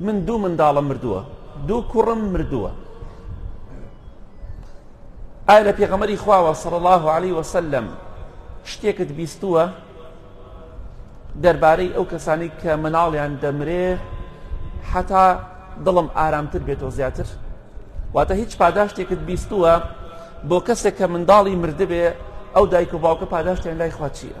من دوو منداڵم مردووە دوو کوڕم مردووە ئایا لە پێغەمەری خواوە سەڵ الله عليه وسلم شتێکت بیستووە دەربارەی ئەو کەسانی کە مناڵیان دەمرێ حتا دڵم ئارامتر بێتەوە زیاتر واتە هیچ پاداشتێکت بیستووە بۆ کەسێک کە منداڵی مردبێ ئەو دایک و باوکە پاداشتیان لای خوا چییە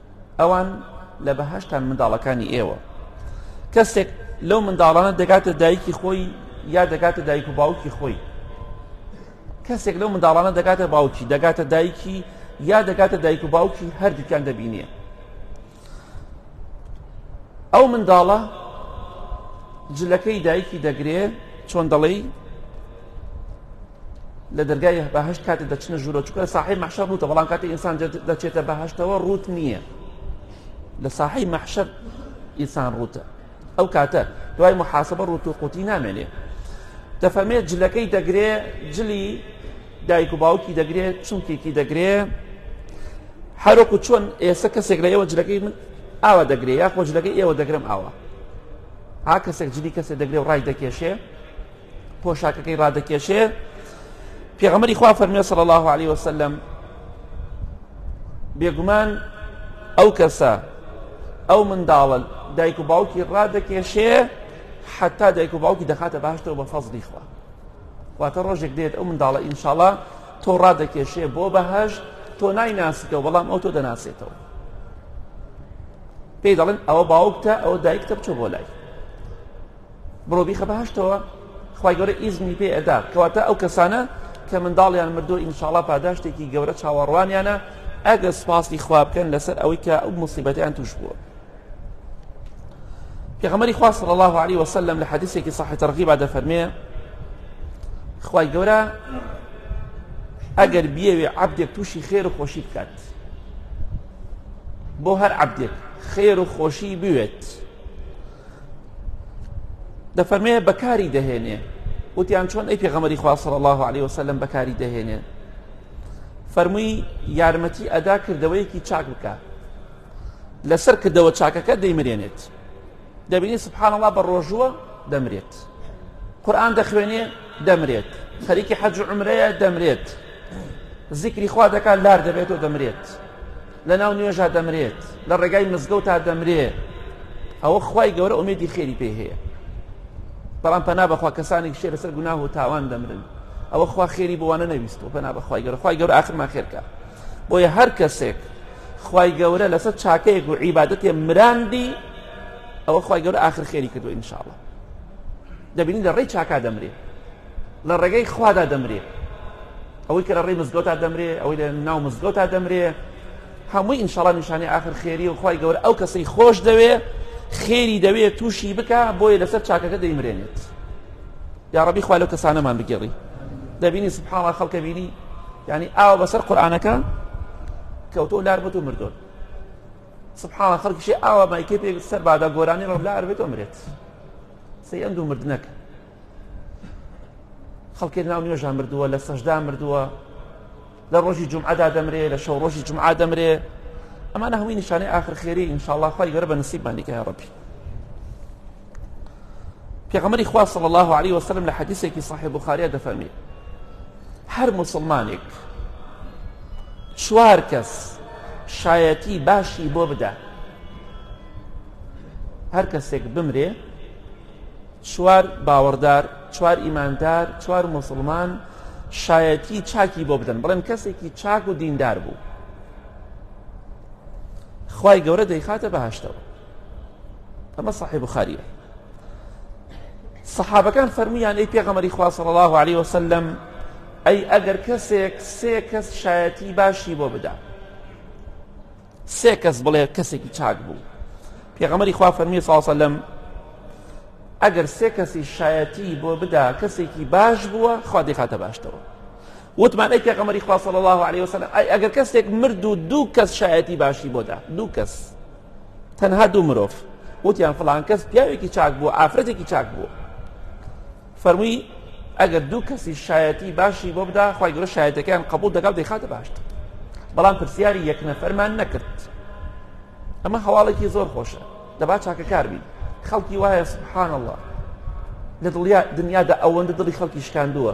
ئەوان لە بەهشتان منداڵەکانی ئێوە کەسێک لەو منداڵانە دەگاتە دایکی خۆی یا دەگاتە دایک و باوکی خۆی کەسێک لەو منداڵانە دەگاتە باوکی دەگاتە دایکی یا دەگاتە دایک و باوکی هەردووکیان دەبینێ ئەو منداڵە جلەکەی دایکی دەگرێ چۆن دەڵێی لە دەرگای بەهشت کاتێ دەچنە ژوورە چکە ساحی مەحشە ڕوتە بەڵام کاتی ئینسان دەچێتە بەهشتەوە ڕوت نییە لە ساحی مەحشە ئینسان ڕوتە ئەو کاتە دوای محاسبە ڕوت و قوتی نامێنێ دەفەمێت جلەکەی دەگرێ جلی دایک و باوکی دەگرێت چونکێکی دەگرێ هەرۆک و چۆن ئێستا کەسێک لە ئێوە جلەکەی من ئاوا دەگرێ یا خۆ جلەکەی ئێوە دەگرم ئاوا ها کەسێک جلی کەسێک دەگرێ و ڕای دەکێشێ پۆشاکەکەی ڕادەکێشێ پێغەمەری خوا فەرمێ صلی الله عليه وسلم بێگومان ئەو کەسە ئەو منداڵە دایک و باوکی ڕادەکێشێ حتا دایک و باوکی دەخاتە باشتەوە بە فەزلی خوا واتە ڕۆژێک دێت ئەو منداڵە ئینشاڵە تۆ ڕادەکێشێ بۆ بەهشت تۆ نایناسیتەوە بەڵام ئەو تۆ دەناسێتەوە پێی دەڵێن ئەوە باوکتە ئەوە دایکتە بچۆ بۆ لای بڕۆ بیخە بەهەشتەوە خوای گەورە ئیزنی پێ ئەدات کەواتە ئەو کەسانە کە منداڵیان مردو ئینشاڵا پاداشتێکی گەورە چاوەڕوانیانە ئەگەر سپاسی خوا بکەن لەسەر ئەوەی کە ئەو مصیبەتیان توش بووە پێغەمەری خوا صلی الله عليه وسلم لە حەدیثێکی صحیح ترغیبا دەفەرمێ خوای گەورە ئەگەر بیەوێ عبدێک تووشی خێر و خۆشی بکات بۆ هەر عبدێک خێر و خۆشی بوێت دەفەرمێ بەکاری دەهێنێ وتیان چۆن ئەی پێغەمەری خواصل الله عليه وسلم بەکاری دەهێنێ فەرمووی یارمەتی ئەدا کردەوەیەکی چاک بکە لەسەر کردەوە چاکەکە دەیمرێنێت دەبینی سبحان الله بە ڕۆژووە دەمرێت قورآن دەخوێنێ دەمرێت خەریکی حەج عمرەیە دەمرێت زیکری خوا دەکات لار دەبێت و دەمرێت لە ناو نوێژا دەمرێت لە ڕێگای مزگەوتا دەمرێ ئەوە خوای گەورە ئومێدی خێری پێ هەیە بەڵام پەنا بەخوا کەسانێک شێ لەسەر گوناه و تاوان دەمرن ئەوە خوا خێری بۆوانە نەویست و پەنا بەخوای گەورە خوای گەورە ئاخرمان خێرکە بۆیە هەر کەسێک خوای گەورە لەسەر چاکەیەک و عیبادەتێ مراندی ئەوە خوای گەورە ئاخر خێری کردو ئینشاءڵە دەبینی لە ڕێی چاکا دەمرێت لە ڕێگەی خوادا دەمرێ ئەوەی کە لە ڕێی مزگەوتا دەمرێ ئەوەی لە ناو مزگەوتا دەمرێ هەمووی ئینشاڵا نیشانی ئاخر خێری و خی گەورە ئەو کەسەی خۆش دەوێ خێری دەوێ تووشی بکە بۆیە لەسەر چاکەکە دەیمرێنێت یاڕبی خوا لەو کەسانەمان بگێڕی دەبینی سبحاڵا خەڵکە بینی ینی ئاوە بەسەر قورآانەکە کەوتۆ لار بۆ و مردۆن سبحاڵە خەڵکیشی ئاوە مایکێ پێ سەر بادا گۆرانی ڕۆ لار بێت ئەمرێت سەی ئەم دوو مردنەکە خەڵکێک ناو نوێژا مردووە لە سەشدا مردووە لە ڕۆژی جمعدا دەمرێ لە شەو ڕۆژی جمعا دەمرێ ئەمانە هەمووی نیشانەی ئاخر خێری ئینشاءڵڵا خی گەرە بە نسیبمانیکە یا ڕەبی پێغەمەری خوا صلی الله عليه وسلم لە حەدیثێکی صحیح بخاریا دەفەرمی هەر مسلمانێک چوار کەس شایەتی باشی بۆ بدە هەر کەسێک بمرێ چوار باوەڕدار، چوار ئیماندار، چوار موسڵمان شایەتی چاکی بۆ بدەن بڵێن کەسێکی چاک و دیندار بوو خی گەورە دەیخاتە بەهشتەوە ئەمە صحی بخاریە سەحابەکان فەرمویان ئەی پێغەمەری خواصل الله عليه وسلم ئەی ئەگەر کەسێک سێ کەس شایەتی باشی بۆ بدا سێ کەس بڵێ کەسێکی چاک بوو پێغەمەری خوا فەرمی ساسەلم ئەگەر سێ کەسی شایەتی بۆ بدا کەسێکی باش بووە خوا دەخاتە باشتەوە وتمان ئەی پێغەمەری خوا صلی الله عليه وسلم ئەی ئەگەر کەسێک مرد و دوو کەس شایەتی باشی بۆدا دوو کەس تەنها دوو مرۆڤ وتیان فلان کەس پیاوێکی چاک بوو ئافرەتێکی چاک بوو فەرمووی، ئەگەر دوو کەسی شایەتی باشی بۆ بدا، خوای گەورە شایەتیەکەیان قبوڵ دەکا و دەیخاتە بەهەشت، بەڵام پرسیاری یەک نەفەرمان نەکرد، ئەمە هەواڵێکی زۆر خۆشە، دەبا چاکەکار بین، خەڵکی وایە سبحان اللە لە دڵیا دنیادا ئەوەندە دڵی خەڵکی شکاندووە،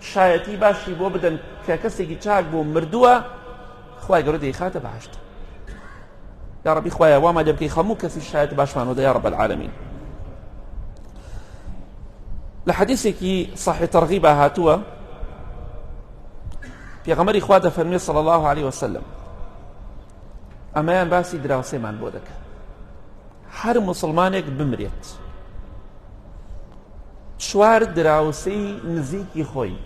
شایەتی باشی بۆ بدەن کە کەسێکی چاک بوو مردووە خوای گەورە دەیخاتە بەهشت یا ربی خوایە واما لێ بکەی هەموو کەسی شایەت باشمانەوە یا رب العالمین لە حەدیثێکی صحی تەرغیبا هاتووە پێغەمەری خوا دەفەرمێ صلی الله عليه وسلم ئەمەیان باسی دراوسێمان بۆ دەکەن هەر موسڵمانێک بمرێت چوار دراوسەی نزیکی خۆی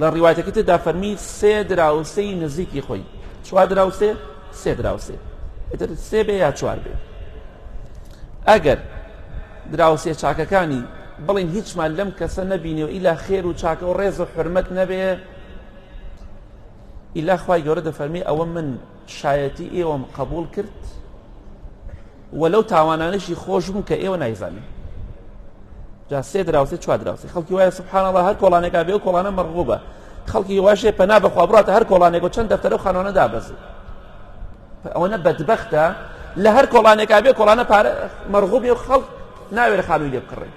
لە ڕیواتەکە تێدا فەرمی سێ دراوسەی نزیکی خۆی چوار دراوسێ سێ دراوسێ ئەتر سێ بێ یا چوار بێ ئەگەر دراوسێ چاکەکانی بڵین هیچمان لەم کەسە نەبینێ و ئیلا خێر و چاکە و ڕێز و حرمەت نەبێ ئیلا خی گەورە دەفەرمی ئەوە من شایەتی ئێوەم قەبوڵ کرد و لەو تاوانانەشی خۆش بوو کە ئێوە نایزانن جا سێ دراوسێ چوار دراوسێ خەڵکی وایە سبحان الله هەر کۆڵانێکا بێ و کۆڵانە مەرغوبە خەڵکی واشێ پەنا بەخوا بڕاتە هەر کۆڵانێک و چەند دەفتەرە و خانوانە دابەزی ئەوەنە بەدبەختە لە هەر کۆڵانێکا بێ کۆڵانە پارە مەرغوبێ و خەڵک ناوێرە خانووی لێ بکڕێ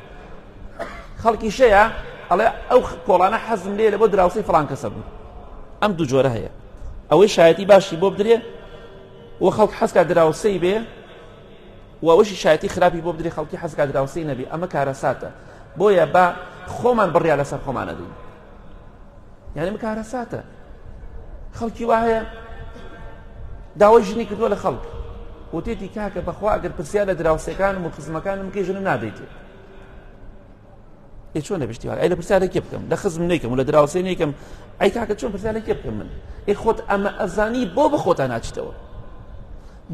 خەڵکیشەیە ئەڵێ ئەو کۆڵانە حەزم لێ لە بۆ دراوسی فلان کەسە بوو ئەم دوو جۆرە هەیە ئەوەی شایەتی باشی بۆ بدرێ و خەڵک حەزکە دراوسەی بێ و ئەوشی شایەتی خراپی بۆ بدرێ خەڵکی حەزکە دراوسی نەبی ئەمە کارەساتە بۆیە بە خۆمان بڕیا لەسەر خۆمانە دین یعنی ئەمە کارەساتە خەڵکی وا هەیە داوای ژنی کردووە لە خەڵک وتێتی کاکە بەخوا ئەگەر پرسیار لە دراوسەکانم و خزمەکانم کەی ژنم نادەیتێ ئێ چۆن نەبشتی ئەی لە پرسیارە کێ بکەم لە خزم نیکەم و لە دراوسێ نیکەم ئەی کاکە چۆن پرسیارە کێ بکەم من ئێ خۆت ئەمە ئەزانی بۆ بە خۆتان ناچیتەوە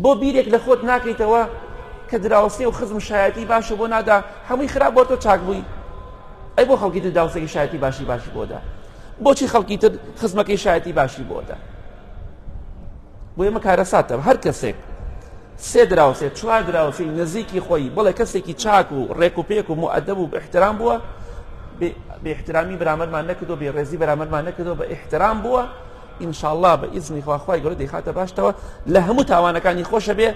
بۆ بیرێک لە خۆت ناکەیتەوە کە دراوسێ و خزم شایەتی باشە بۆ نادا هەمووی خراپ بۆ تۆ چاک بووی ئەی بۆ خەڵکی تر داوسێکی شایەتی باشی باشی بۆدا بۆچی خەڵکی تر خزمەکەی شایەتی باشی بۆدا بۆ ئێمە کارەساتە هەر کەسێک سێ دراوسێ چوار دراوسی نزیکی خۆی بڵێ کەسێکی چاک و ڕێک و پێک و مؤدەب و احترام بووە بێ احترامی برامەرمان نەکردو بێ ڕێزی برامەرمان نەکردو بە احترام بووە ان شاءاللە بە ئیزنی خوا خوای گەورە دەیخاتە باشتەوە لە هەموو تاوانەکانی خۆشە بێ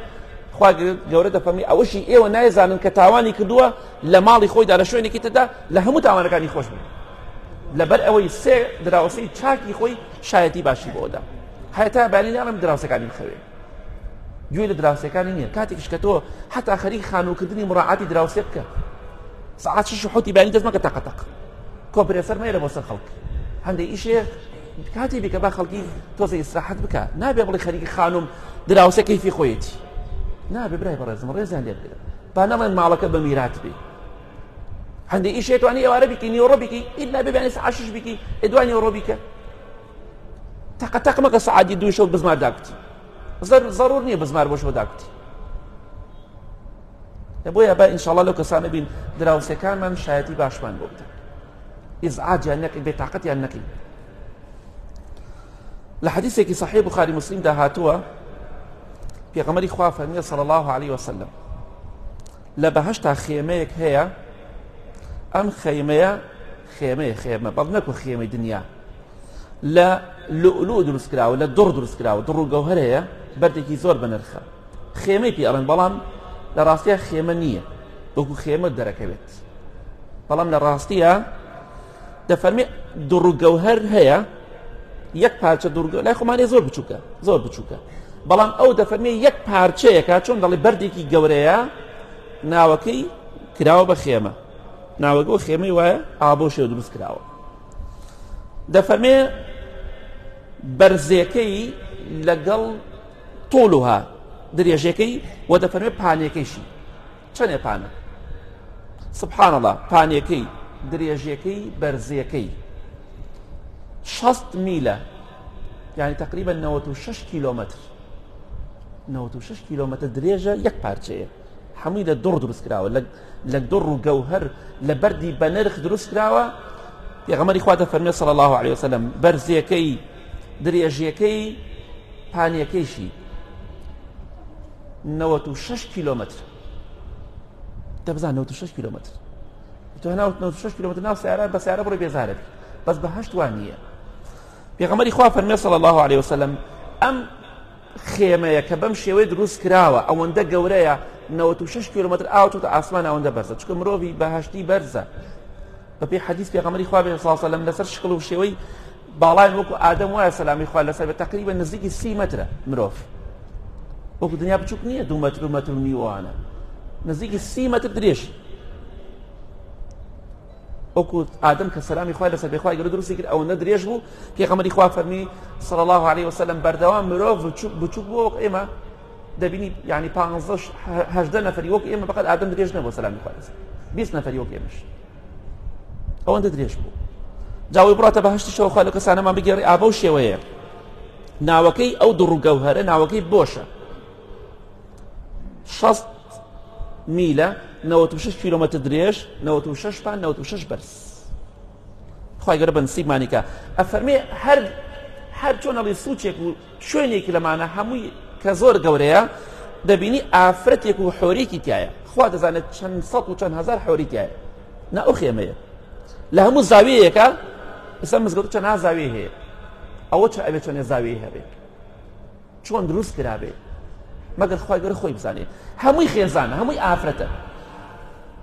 خوا گەورە دەفەرمی ئەوەشی ئێوە نایزانن کە تاوانی کردووە لە ماڵی خۆیدا لە شوێنێکی تردا لە هەموو تاوانەکانی خۆش بن لەبەر ئەوەی سێ دراوسی چاکی خۆی شایەتی باشی بۆدا هەتا بەلی ناڵم دراوسەکانی بخەوێ گوێ لە دراوسەکانی نییە کاتێکش کە تۆ حتا خەری خانووکردنی مڕعاتی دراوسێ بکە سعات شش حوتی بانی دەستمەکە تەقەتەق کۆپرێسەر مێرە بۆ سەر خەڵک هەندێک ئیشێ کاتی بیکە با خەڵکی تۆزە ئیسراحەت بکە نابێ بڵی خەریکی خانم دراوسە کەیفی خۆیەتی نابێ برای بەڕێزم ڕێزیان لێ بگرە با نەڵێن ماڵەکە بە میرات بێ هەندێک ئیشێتوانی ئێوارە بکی نیوەڕۆ بکی ئید نابێ بێنێس عاشش بکی ئێدوانی ئەوڕۆ بیکە تەقە تەق مەکە سعادی دوو شەو بزمار داکوتی زەر زەڕور نییە بزمار بۆ شەو داکوتی بۆیە با ئینشاڵە لەو کەسانە بین دراوسەکانمان شایەتی باشمان بۆ بدەن ئیزعاجیان نەکەی بێتاقەتیان نەکەی لە حەدیثێکی صحیح بخاری مسلم دا هاتووە پێغەمەری خوا فەرمیە صلی الله عليه وسلم لە بەهشتا خێمەیەک هەیە ئەم خەیمەیە خێمەیە خێمە بەڵ نەکو خێمەی دنیا لە لولو دروست کراوە لە دڕ دروست کراوە دڕ و گەوهرەیە بەردێکی زۆر بەنرخە خێمەی پێڵێن بەڵام لە ڕاستە خێمە نییە وەکو خێمە دەرەکەوێت دەکرێت بەڵام لە ڕاستیە دەفەرمی دوڕگەوهر هەیە یەک پارچە دوورگە لای خۆمانێ زۆر بچووکە زۆر بچووکە بەڵام ئەو دەفەرمی یەک پارچەیەکە چۆن دەڵی بەردێکی گەورەیە ناوەکەی کراوە بە خێمە ناوەگە و خێمەی وایە ئابۆ شێ دروست کراوە دەفەرمێ بەرزێکەی لەگەڵ تۆلوها درێژەکەی و دەفەرمێ پانەکەیشی چەنێ پانە؟ سبحان اللە پانێکەی درێژێکەی بەرزێکەی شەست میلە یعنی تقریبا نەوەت و شەش کیلۆمەتر نەوەت و شەش کیلۆمەتر درێژە یەک پارچەیە هەمووی لە دڕ دروست کراوە لە دڕ و گەوهر لە بەردی بە نرخ دروست کراوە پێغەمەری خوا دەفەرمێ صلی الله عليه وسلم بەرزیەکەی درێژیەکەی پانیەکەیشی نەوەت و شەش کیلۆمەتر دە بزان نەوەت و شەش کیلۆمەتر تۆ ناوت نەوەت و شەش کیلۆمەتر ناو سیارە بە سیارە بڕی بێزارت بەس بە هەشت وان نییە پێغەمەری خوا فەرمێ صلی الله عليه وسلم ئەم خێمەیە کە بەم شێوەی دروست کراوە ئەوەندە گەورەیە 96 کیلومتر ئاوتوتە ئاسمان ئەوەندە بەرزە چکە مرۆڤی بەهشتی بەرزە بە پێی حەدیث پێغەمبەری خوا بێن صلی الله لەسەر شکل و شێوەی باڵای وەکو ئادەم وایە سەلامی خوا لەسەر بە تقریبا نزیکی سی مترە مرۆڤ وەکو دنیا بچووک نییە دوو متر و متر و نیوانە نزیکی سی متر درێژ وەکو ئادەم کە سەلامی خوا لەسەر بێخوای گەرە دروستی کرد ئەوەندە درێژ بوو پێغەمبەری خوا فەرمی صلی الله عليه وسلم بەردەوام مرۆڤ بچووک بووە وەک ئێمە دەبینی یانی پانزە هەژدە نەفەری وەک ئێمە بەقەت ئادەم درێژ نەبوو سەلامی خوارز بیست نەفەری وەک ئێمەش ئەوەندە درێژ بوو جاوی بڕاتە بەهشتی شەوخوا لە کەسانەمان بگەڕی ئابە و شێوەیە ناوەکەی ئەو دڕوگەوهرە ناوەکەی بۆشە شەست میلە 96 کیلومتر درێژ 96 پان 96 بەرز خی گەرە بەنسیبمانیکە ئەفەرمێ هەر هەر چۆنەڵی سوچێک و شوێنێک لەمانە هەمووی کە زۆر گەورەیە دەبینی ئافرەتێک و حۆرێکی تایە خوا دەزانێت چەند سەد و چەند هزار حۆری تایە نا ئەو خێمەیە لە هەموو زاویەیەەکە ئستا مزگەوت چەند زاوی هەیە ئەوە چ ئەوێ چەندێ زاوی هەبێت چۆن دروست کرابێت مەگەر خخوای گەر خۆی بزانێت هەمووی خێزانە هەمووی ئافرەتە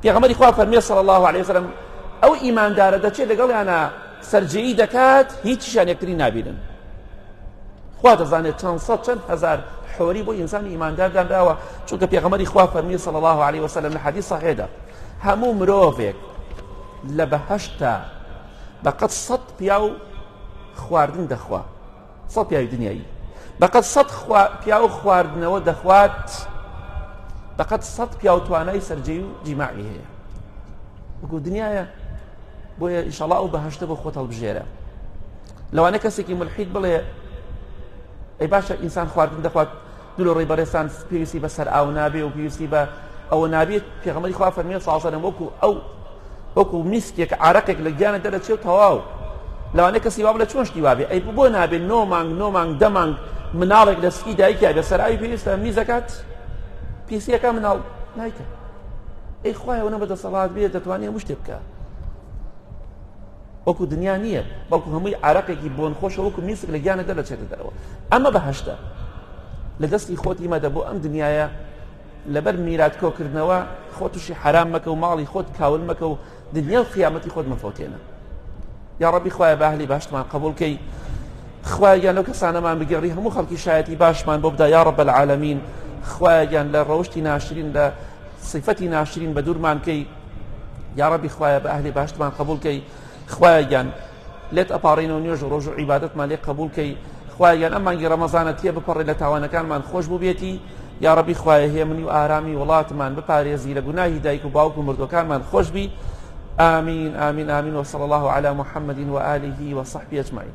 پێغەمبەری خوا فەرمی صلی الله علیه وسلم ئەو ئیماندارە دەچێت لەگەڵیانە سەرجێی دەکات هیچیشان یەکتری نابینن خوا دەزانێت چەند سەد چەند هەزار حۆری بۆ ئینسانی ئیماندار دانراوە چونکە پێغەمەری خوا فەرمی صلی الله عليه وسلم لە حەدیث صحیحدا هەموو مرۆڤێک لە بەهەشتا بەقەت سەد پیاو خواردن دەخوا سەد پیاوی دنیایی بەقەد سەد خوا... پیاو خواردنەوە دەخوات بەقەد سەد پیاو توانای سەرجەی و جیماعی هەیە وەکو دنیاە بۆیە ئیشەڵا ئەو بەهشتە بۆ خۆت هەڵبژێرە لەوانە کەسێکی ملحید بڵێ ئەی باشە ئینسان خواردن دەخوات دلۆڕی بەڕێزتان پێویستی بە سەر ئاو نابێ و پێویستی بە ئەوە نابێت پێغەمەری خوا فەرمیێ سازەرم وەکو ئەو وەکو میسکێک عراقێک لە گیانە دەرەچێ و تەواو لەوانێ کەسی واب لە چۆن شتی وابێ ئەی بۆ نابێت نۆ مانگ نۆ مانگ دە مانگ مناڵێک لە سکی دایکیا بە سەراوی پێویستە میزەکات پیسیەکە مناڵ نایکە ئەی خوایەوە نە بە دەسەڵات بێت دەتوانێت مشتێ بکە وەکو دنیا نیە بەڵکو هەمووی عارەقێکی بۆنخۆشە وەکو میسک لە گیانت دەرەچێتە دەرەوە ئەمە بەهەشتە لە دەستی خۆتی مەدە بۆ ئەم دنیاە لەبەر میرات کۆکردنەوە خۆ تووشی حرام مەکە و ماڵی خۆت کاول مەکە و دنیا و قیامەتی خۆت مەفۆتێنە یا ڕبی خخوای باهلی باشتمان قبولکەی خوایان لەو کەسانەمان بگەڕی هەموو خەڵکی شایەتی باشمان بۆ بدا یا ڕب العالمین خوایان لە ڕەوشی ناشرین لە صفەتی ناشرین بە دوورمانکەی یاڕەبی خوایە بە ئەهلی باشتمان قبول کەی خوایە گیان لێت ئەپارڕینەوە نوێژ و ڕۆژ و عیباەتمان لێ قبول کەی خوایان ئەم مانگی ڕەمەزانە تێ بپەڕێ لە تاوانەکانمان خۆش بووبێتی یا ڕبی خوایە هێمنی و ئارامی وڵاتمان بپارێزی لە گوناهی دایک و باوک و مردەکانمان خۆشببی آمین آمین آمین وصلى الله على محمد وآله وصحبه أجمعين